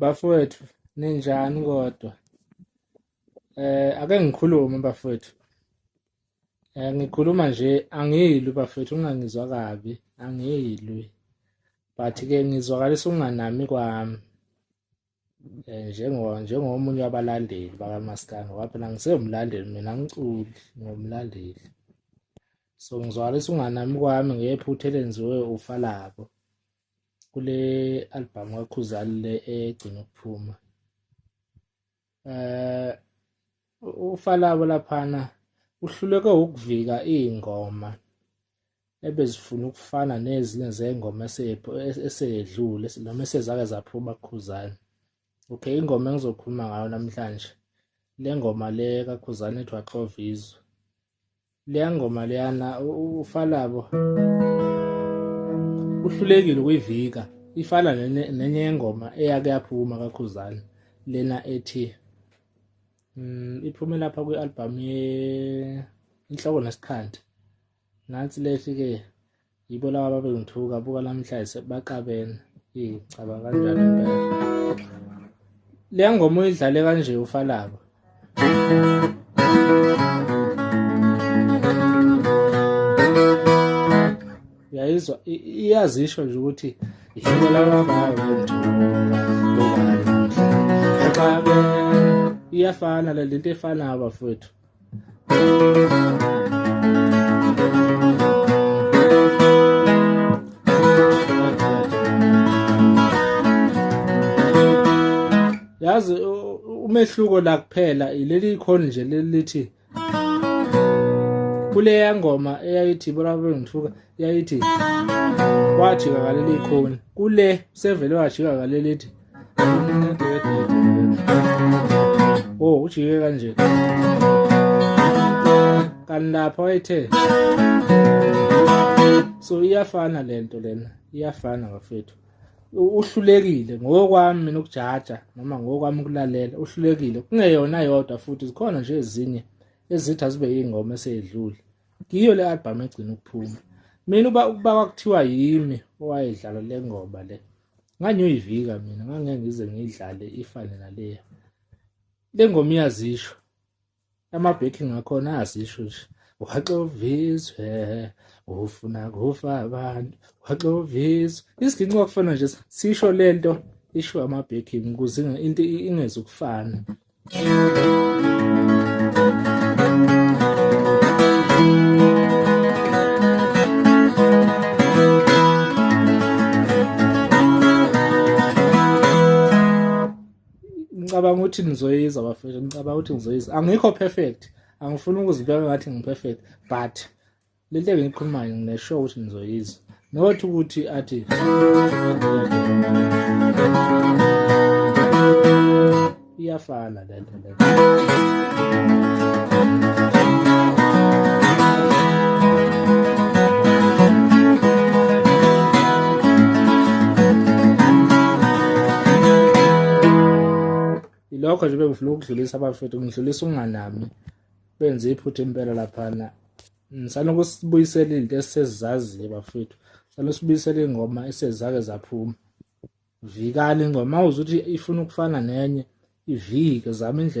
Bafowethu ninjani kodwa? Eh ake ngikhulume bafowethu. Eh ngikhuluma nje angiyilwi bafowethu ungangizwa kabi angiyilwi. But ke ngizwakalisa ukunganami kwami. Eh njengo njengomunye wabalandeli bakaMaskandi ngoba phela ngisewumlandeli mina ngiculi ngomlandeli. So ngizwakalisa ukunganami kwami ngephutha elenziwe ufalabo. kule albhamu kakhuzani le egcina ukuphuma eh ufalabo laphana uhluleke ukuvika izingoma ebezifuna ukufana nezinye zengoma eseyedlule noma esezake zaphuma kukhuzani okay ingoma engizokhuluma ngayo namhlanje le ngoma le kakhuzani ethi waxovizwe leya ngoma leyana ufalabo uhlulekile ukuyivika ifana nenye yengoma eyake yaphuma kakhuzana lena ethi mm, iphume lapha kwi-albhamu inhloko nesikhandi nansi lethi-ke yibo laba babengithuka buka namhlanje baqabene eyi caba kanjani impela le ngoma uyidlale kanje ufalaba uyayizwa iyazisho nje ukuthi yibo laba babengithuka buka namhlanje baqabene iyafana le lento efanayo bafowethu yazi umehluko la kuphela leli khona nje lelithi kuleya ngoma eyayithi bona bengithuka yayithi wajika ngaleli khona kule sevele wajika ngaleli ethi oh ujike kanje kanti lapha wayethe so iyafana lento lena iyafana bafethu uhlulekile ngokwami mina ukujaja noma ngokwami ukulalela uhlulekile kungeyona yodwa futhi zikhona nje ezinye ezithi azibe ingoma eseyedlule ngiyo le album egcina ukuphuma mina uba ukuba kwakuthiwa yimi owayedlala le ngoma le ngangiyoyivika mina ngangeke ngize ngiyidlale ifane naleya le ngoma iyazisho ama-backing akhona ayazisho nje waxoviswe ufuna kufa abantu waxoviswe isiginci kwakufana nje sisho le nto isho ama-backing ukuze into ingezukufana ngicabanga ukuthi nizoyiza bafethu ngicabanga ukuthi ngizoyiza angikho perfect angifuni ukuzibeka ngathi ngiperfect but le nto engiyikhulumayo nginesho ukuthi nizoyizwa nokuthi ukuthi athi iyafana le nto le lokho nje bengifuna ukudlulisa abafethu ngidlulisa unganami benze iphutha impela laphana ngisana ukusibuyisela izinto esisezaziyo bafethu sana usibuyisela ingoma esezake zaphuma vikani ingoma uzuthi ifuna ukufana nenye ivike zama indlela